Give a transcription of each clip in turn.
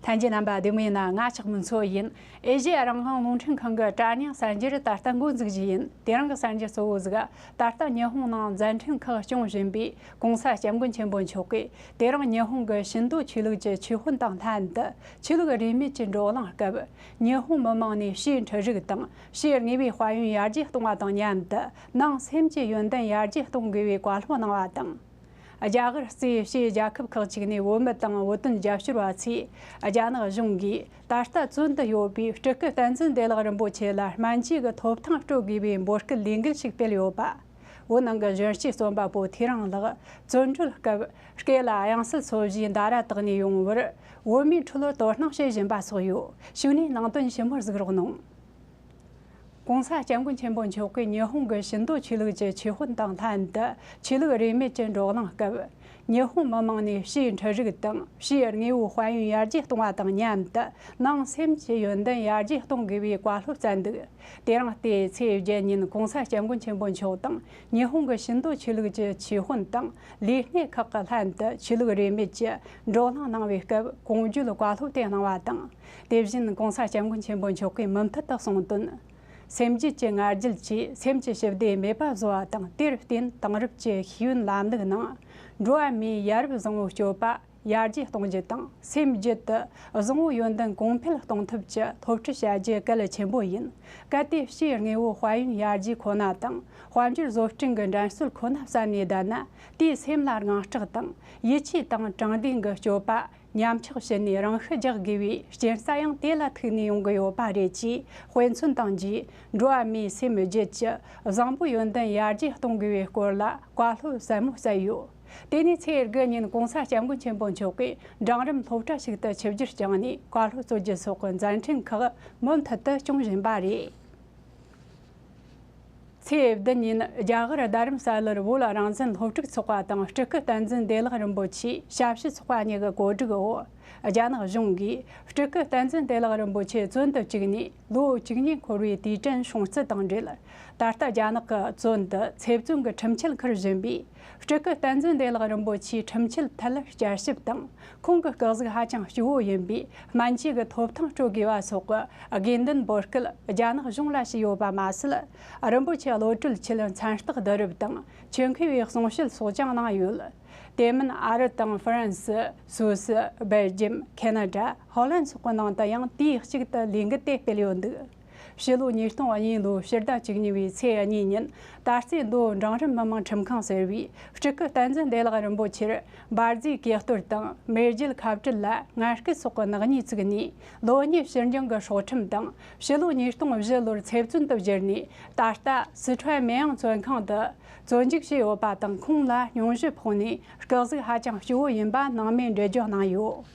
ལྷན་རྒྱས་རྣམ་པ་བདེ་མོ་ཡིན་ན་ང་ཅག་མི་འཚོ་བ་ཡིན། ཨེ་ཞེས་རང་དབང་རླུང་འཕྲིན་ཁང་གི་བཀྲ་ཉི་གསར་འགྱུར་ད་ལྟ་འགོ་འཛུགས་བཞིན་ཡིན་དེ་རིང་གི་གསར་འགྱུར་གཙོ་བོ་གཟིགས་ད་ལྟ་ཉི་ཧོང་ནང་མཛད་འཕྲིན་ཁག་སྐྱོང་བཞིན་པའི ྋགོང་ས ྋསྐྱབས་མགོན་ཆེན་པོ་མཆོག་གིས་དེ་རིང་ཉི་ཧོང་གི་ཞིན་ཏོ་ཆོས་ལུགས་ཀྱི་ཆོས་དཔོན་དང་ལྷན་དུ་ཆོས་ལུགས་རིས་མེད་ཀྱི་འགྲོ་ལམ་སྐབས་ཉི་ཧོང་མི་དམངས་ནས་ཕྱིའི་འཕྲུལ་རིག་དང་ཕྱིའི་དངོས་པོའི་དཔལ་ཡོན་ཡར་རྒྱས་གཏོང་བ་དང་མཉམ་དུ་ནང་སེམས་ཀྱི་ཡོན་ཏན་ཡར་རྒྱས་གཏོང་དགོས་པའི་བཀའ་སློབ་གནང་བ་དང། རྒྱ་གར་གཙོས་ཕྱིའི་རྒྱལ་ཁབ་ཁག་ཅིག་ནས་བོད་མི་དང་བོད་དོན་རྒྱབ་སྐྱོར་བ་ཚོས་རྒྱ་ནག་གཞུང་གིས་ད་ལྟ་བཙོན་དུ་ཡོད་པའི་སྤྲུལ་སྐུ་བསྟན་འཛིན་བདེ་བླག་རིན་པོ་ཆེ་ལ་སྨན་བཅོས་ཀྱི་ཐོབ་ཐང་སྤྲོད་དགོས་པའི་འབོད་སྐུལ་ལས་འགུལ་ཞིག་སྤེལ་ཡོད་པ། བོད་ནང་གི་གཞོན་སྐྱེས་རྩོམ་པ་པོ་ཐེ་རང་ལགས་བཙོན་གྲོལ་སྐབས་སྐེ་ལ་དབྱངས་གསལ་ཚོ་བཞིའི་འདའ་ར་དག་ནས་ཡོང་བར་བོད་མིའི་ཁྲོད་དོ་སྣང་བྱེད་བཞིན་པ་སོགས་ཡོད་ཞུ་ནས་ནང་དོན་ཞིབ་མོར་གཟིགས་རོགས་གནང། ྋགོང་ས ྋསྐྱབས་མགོན་ཆེན་པོ་མཆོག་གིས་ཉི་ཧོང་གི་ཤིན་ཏོ་ཆོས་ལུགས་ཀྱི་ཆོས་དཔོན་དང་ལྷན་དུ་ཆོས་ལུགས་རིས་མེད་ཀྱི་འགྲོགས་གླེང་སྐབས། ཉི་ཧོང་མི་དམངས་ནས་ཕྱིའི་འཕྲུལ་རིག་དང་ཕྱིའི་དངོས་པོའི་དཔལ་ཡོན་ཡར་རྒྱས་གཏོང་བ་དང་མཉམ་དུ་ནང་སེམས་ཀྱི་ཡོན་ཏན་ཡར་རྒྱས་གཏོང་དགོས་པའི་བཀའ་སློབ་བསྩལ་འདུག། དེ་རིང་ལྟེའི་ཚེས་བརྒྱད་ཉིན ྋགོང་ས་སྐྱབས་མགོན་ཆེན་པོ་མཆོག་དང་ཉི་ཧོང་གི་ཞིང་འབྲོག་ཆོས་ལུགས་ཀྱི་ཆོས་དཔོན་དང་ལས་སྣེ་ཁག་གི་ལྷན་དུ་ཆོས་ལུགས་རིས་མེད་ཀྱི་བགྲོ་གླེང་གནང་བའི་སྐབས་གུང་བརྒྱུད་བཀའ་སློབ་སྟེགས་གནང་བ་དང། དེ་བཞིན ྋགོང་ས་སྐྱབས་མགོན་ཆེན་པོ་མཆོག་གིས་མུ་མཐུད་དུ་གསུང་དོན། སེམས་རྒྱུད་ཀྱི་ངར་རྒྱུད་ཀྱིས་སེམས་ཀྱི་ཞི་བདེ་མེད་པ་བཟོ་བ་དང་དེར་བརྟེན་དེང་རབས་ཀྱི་ཤེས་ཡོན་ལམ་ལུགས་ནང་འགྲོ་བ་མིའི་ཡ་རབས་བཟང་བོའི་སྤྱོད་པ། ཡར་རྒྱས་གཏོང་རྒྱུ་དང་སེམས་རྒྱུད་དུ་བཟང་བོ་ཡོན་ཏན་གོང་འཕེལ་གཏོང་ཐུབ་ཀྱི་ཐོབ་ཁྲིད་བྱ་རྒྱུ་གལ་ཆེན་པོ་ཡིན། གལ་ཏེ་སྤྱིའི་དངོས་བོ་དཔལ་ཡོན་ཡར་རྒྱས་ཁོ་ན་དང་དཔལ་འབྱོར་བཟོ་སྐྲུན་གྱི་འགྲན་སྲོལ་ཁོ་ན་བསམ་ནས་བསྡད་ན་དེས་སེམས་ལ་དངངས་སྐྲག་དང་ཡིད་ཆེས་དང་དྲང་བདེན་གྱི་སྤྱོད་པ་ཉམས་ཆག་བྱས་ནས་རང་ཤི་རྒྱག་དགོས་པའི་རྐྱེན་རྩ་ཡང་དེ་ལ་ཐུག་ནས་ཡོང་གི་ཡོད་པ་རེད་ཅེས་དཔེ་མཚོན་བཏང་རྗེས་འགྲོ་བ་མིའི་སེམས་རྒྱུད་ཀྱི་བཟང་བོ་ཡོན་ཏན་ཡར་རྒྱས་གཏོང་དགོས་པའི་སྐོར་ལ་བཀའ་སློབ་ཟབ་མོ་བསྩལ་ཡོད། དེ་ནས་ཚེས་དགུ་ཉིན་གོང་ས་སྐྱབས་མགོན་ཆེན་པོ་མཆོག་གིས་འབྲིང་རིམ་སློབ་གྲྭ་ཞིག་ཏུ་ཆིབས་བསྒྱུར་བསྐྱངས་ནས་བཀའ་སློབ་སྩོལ་རྒྱུ་སོགས་ཀྱི་མཛད་འཕྲིན་ཁག་མུ་མཐུད་དུ་སྐྱོང་བཞིན་པ་རེད། ཚེས་བདུན་ཉིན་རྒྱ་གར་རྡ་རམ་ས་ལར་བོད་རང་བཙན་སློབ་ཕྲུག་ཚོགས་པ་དང་སྤྲུལ་སྐུ་བསྟན་འཛིན་བདེ་བླག་རིན་པོ་ཆེའི་ཞབས་ཕྱི་ཚོགས་པ་གཉིས་ཀྱི་གོ་སྒྲིག་འོག་རྒྱ་ནག་གཞུང་གིས་སྤྲུལ་སྐུ་བསྟན་འཛིན་བདེ་བླག་རིན་པོ་ཆེ་བཙོན་དུ་བཅུག་ནས་ལོ་གཅིག་གཉིས་འཁོར་བའི་དུས་དྲན་བྱུང་རྩིས་དང་འབྲེལ་ད་ལྟ་རྒྱ་ནག་གི་བཙོན་དུ་ཚེ་བཙོན་གྱི་ཁྲིམས་ཆད་འཁུར་བཞིན་པའི་སྤྲུལ་སྐུ་བསྟན་འཛིན་བདེ་བླག་རིན་པོ་ཆེའི་ཁྲིམས་ཆད་ཐད་བསྐྱར་ཞིབ་དང་ཁོང་གི་བཀག་གཟིགས་ཧ་ཅང་སྐྱུག་བོ་ཡིན་པས་སྨན་བཅོས་ཀྱི་ཐོབ་ཐང་སྤྲོད་དགོས་པ་སོགས་ཀྱི་དགོས་འདུན་འབོད་སྐུལ་རྒྱ་ནག་གཞུང་ལ་བྱས་ཡོད་པ་མ་ཟད། རིན་པོ་ཆེ་བློ་གྲོས་ཆེད་མཚན་རྟགས་བསྡུ་རུབ་དང་ཆོས་མཁས་པའི་གསུང་བཤད་སོགས་ཀྱང་གནང་ཡོད། དེ་མིན་ཨ་རི་དང་ཧྥ་རན་སི། སུ་སི། སྦེལ་ཇི་ཡམ། ཁེ་ན་ཏྲ། ཧོ་ལན་སོགས་ཀྱི་ནང་དུ་ཡང་དུས་གཅིག་ཏུ་ལས་འགུལ་དེ་སྤེལ་ཡོད་འདུག། ཕྱི་ལོ་ཉིས་སྟོང་གཉིས་ལོའི་ཕྱི་ཟླ་གཅིག་ཉིན་པའི་ཚེས་གཉིས་ཉིན་ད་རྩེ་མདོ་འབྲིང་རིམ་མི་དམངས་ཁྲིམས་ཁང་ཟེར་བས་སྤྲུལ་སྐུ་བསྟན་འཛིན་བདེ་བླག་རིན་པོ་ཆེར་འབར་རྫས་གེགས་གཏོར་དང་མེ་རྒྱལ་ཁ་བྲལ་ལ་ངར་སྐད་སོགས་ཀྱི་ནག་ཉེས་བཙུགས་ནས་ལོ་གཉིས་ཕྱིར་འགྱངས་ཀྱི་སྲོག་ཁྲིམས་དང་ཕྱི་ལོ་ཉིས་སྟོང་བཞི་ལོར་ཚེ་བཙོན་དུ་བསྒྱུར་ནས་ད་ལྟ་སི་ཁྲོན་མེན་ཨང་བཙོན་ཁང་དུ་བཙོན་འཇུག་བྱས་ཡོད་པ་དང་ཁོང་ལ་སྙུང་གཞི་ཕོག་ནས་སྐག་གཟུགས་ཧ་ཅང་སྐྱོ་བོ་ཡིན་པ་ནང་མའི་འགྲེལ་བརྗོད་གནང་ཡོད།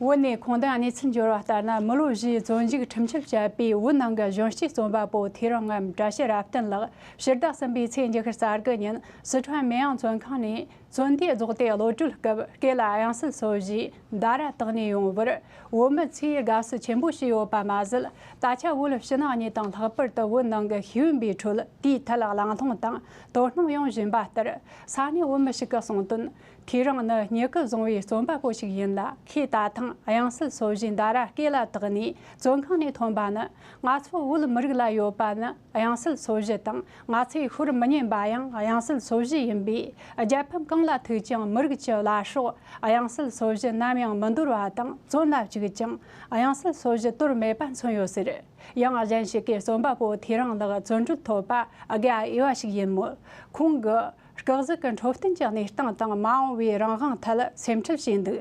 བོད་ནས་གོང་དང་གནས་ཚུལ་འབྱོར་བ་ལྟར་ན་མི་ལོ་བཞིའི་བཙོན་འཇུག་ཁྲིམས་ཆད་བཅད་པའི་བོད་ནང་གི་གཞོན་སྐྱེས་རྩོམ་པ་པོ་ཐེ་རིང་ངམ་བཀྲ་ཤིས་རབ་བརྟན་ལགས་ཕྱིར་བདག་གསུམ་པའི་ཚེས་བཅུ་ཤར་གསར་གི་ཉིན་སི་ཁྲོན་མེ་ཡང་བཙོན་ཁང་ནས་བཙོན་དུས་རྫོགས་ཏེ་བློ་གྲོས་སྐབས་སྐེ་ལ་གཡང་སིལ་སོ་བཞི་མདའ་ར་བཏགས་ནས་ཡོང་བར་བོད་མི་ཚོས་དགའ་བསུ་ཆེན་པོ་བྱས་ཡོད་པ་མ་ཟད་ད་ཆ་བོད་ཕྱི་ནང་གཉིས་དང་ལྷག་པར་དུ་བོད་ནང་གི་ཤེས་ཡོན་པའི་ཁྲོད་དེའི་ཐད་ལ་གླེང་སློང་དང་དོ་སྣང་ཡོང་བཞིན་པ་ལྟར་ས་གནས་བོད་མི་ཞིག་གིས་གསུངས་དོན། ཁྱེད་རང་ནི་སྙི་གུ་བཟང་བའི་རྩོམ་པ་པོ་ཞིག་ཡིན་ལ་ཁོས་ད་ཐེངས་དབྱངས་གསལ་སོ་བཞིའི་འདའ་ར་སྐད་ལ་དག་ནས་བཙོན་ཁང་ནས་ཐོན་པ་ནི་ང་ཚོ་བོད་མི་རིགས་ལ་ཡོད་པ་ནི་དབྱངས་གསལ་སོ་བཞི་དང་ང་ཚོའི་ཤོར་མི་ཉན་པ་ཡང་དབྱངས་གསལ་སོ་བཞི་ཡིན་པས་རྒྱལ་ཕམ་གང་ལ་ཐུག་ཀྱང་མི་རིགས་ཀྱི་བླ་སྲོག་དབྱངས་གསལ་སོ་བཞི་ནམ་ཡང་མི་འདོར་བ་དང་བཙོན་ལ་བཅུག་ཀྱང་དབྱངས་གསལ་སོ་བཞི་དོར་མེད་པ་མཚོན་ཡོད་ཟེར། ཡང་གཞན་ཞིག་གིས་རྩོམ་པ་པོ་ཐེ་རང་ལགས་བཙོན་གྲོལ་ཐོབ་པ་དགའ་འོས་པ་ཞིག་ཡིན་མོད་ཁོང་གི། སྐག་ཟུག་གི་འཕྲོད་བསྟེན་གྱི་གནས་སྟངས་དང་མ་འོངས་པའི་རང་དབང་ཐད་སེམས་ཁྲལ་བྱས་འདུག་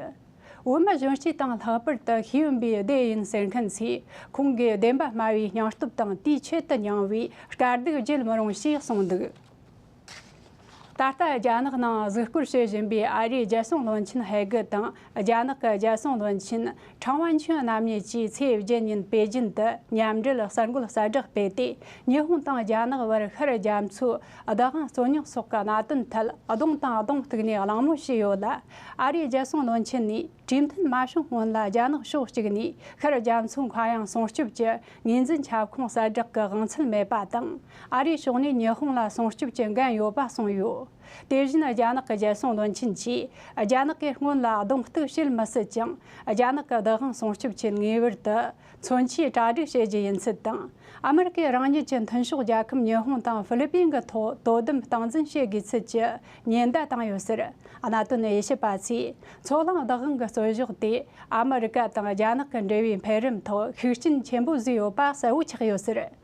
བོད་མི་གཞོན་སྐྱེས་དང་ལྷག་པར་དུ་ཤེས་ཡོན་པའི་སྡེ་ཡིན་ཟེར་མཁན་ཚོས་ཁོང་གི་བདེན་པ་སྨྲ་བའི་སྙིང་སྟོབས་དང་དུས་ཆེད་དུ་མྱངས་བའི་དཀའ་སྡུག་བརྗེད་མི་རུང་ཞེས་གསུངས་འདུག་ད་ལྟ་རྒྱ་ནག་ནང་གཟིགས་སྐོར་བྱེད་བཞིན་པའི་ཨ་རིའི་རྒྱལ་སྲུང་བློན་ཆེན་ཧེ་གི་དང་རྒྱ་ནག་གི་རྒྱལ་སྲུང་བློན་ཆེན་ཁྲང་ཝན་ཆོན་རྣམ་གཉིས་ཀྱིས་ཚེས་བརྒྱད་ཉིན་པེ་ཅིན་དུ་མཉམ་འབྲེལ་གསར་འགོད་གསལ་བསྒྲགས་སྤེལ་ཏེ་ཉི་ཧོང་དང་རྒྱ་ནག་བར་ཤར་རྒྱ་མཚོའི་བདག་དབང་རྩོད་རྙོག་སོགས་ཀྱི་གནད་དོན་ཐད་གདོང་དང་གདོང་གཏུག་ནས་གླེང་མོལ་བྱས་ཡོད་ལ། ཨ་རིའི་རྒྱལ་སྲུང་བློན་ཆེན་ནས་གྲོས་མཐུན་མ་བྱུང་སྔོན་ལ་རྒྱ་ནག་ཕྱོགས་གཅིག་ནས་ཤར་རྒྱ་མཚོའི་མཁའ་དབྱིངས་སྲུང་སྐྱོབ་ཀྱི་ངོས་འཛིན་ཁྱབ་ཁོངས་གསལ་བསྒྲགས་ཀྱི་དབང་ཚད་མེད་པ་དང་ཨ་རིའི་ཕྱོགས་ནས་ཉི་ཧོང་ལ་སྲུང་སྐྱོབ་ཀྱི་འགན་ཡོད་པ་གསུངས་ཡོད། དེ་བཞིན་རྒྱ་ནག་གི་རྒྱལ་སྲུང་བློན་ཆེན་གྱིས་རྒྱ་ནག་གི་སྔོན་ལ་གདོང་གཏུག་བྱེད་མི་སྲིད་ཅིང་རྒྱ་ནག་གི་བདག་དབང་སྲུང་སྐྱོབ་ཆེད་ངེས་པར་དུ་མཚོན་ཆའི་གྲ་སྒྲིག་བྱེད་རྒྱུ་ཡིན་ཚུལ་དང། ཨ་མི་རི་ཀས་རང་ཉིད་ཀྱི་མཐུན་ཕྱོགས་རྒྱལ་ཁབ་ཉི་ཧོང་དང་ཧྥི་ལི་པིན་གྱི་ཐོག་དོ་དམ་སྟངས་འཛིན་བྱེད་དགོས་ཚུལ་གྱི་ཉེན་བརྡ་བཏང་ཡོད་ཟེར། གནད་དོན་དབྱེ་ཞིབ་པ་ཚོས་མཚོ་གླང་བདག་དབང་གི་རྩོད་གཞག་དེས་ཨ་མི་རི་ཀ་དང་རྒྱ་ནག་གི་འབྲེལ་བའི་འཕེལ་རིམ་ཐོག་ཤུགས་རྐྱེན་ཆེན་པོ་བཟོས་ཡོད་པ་གསལ་བོ་ཆགས་ཡོད་ཟེར།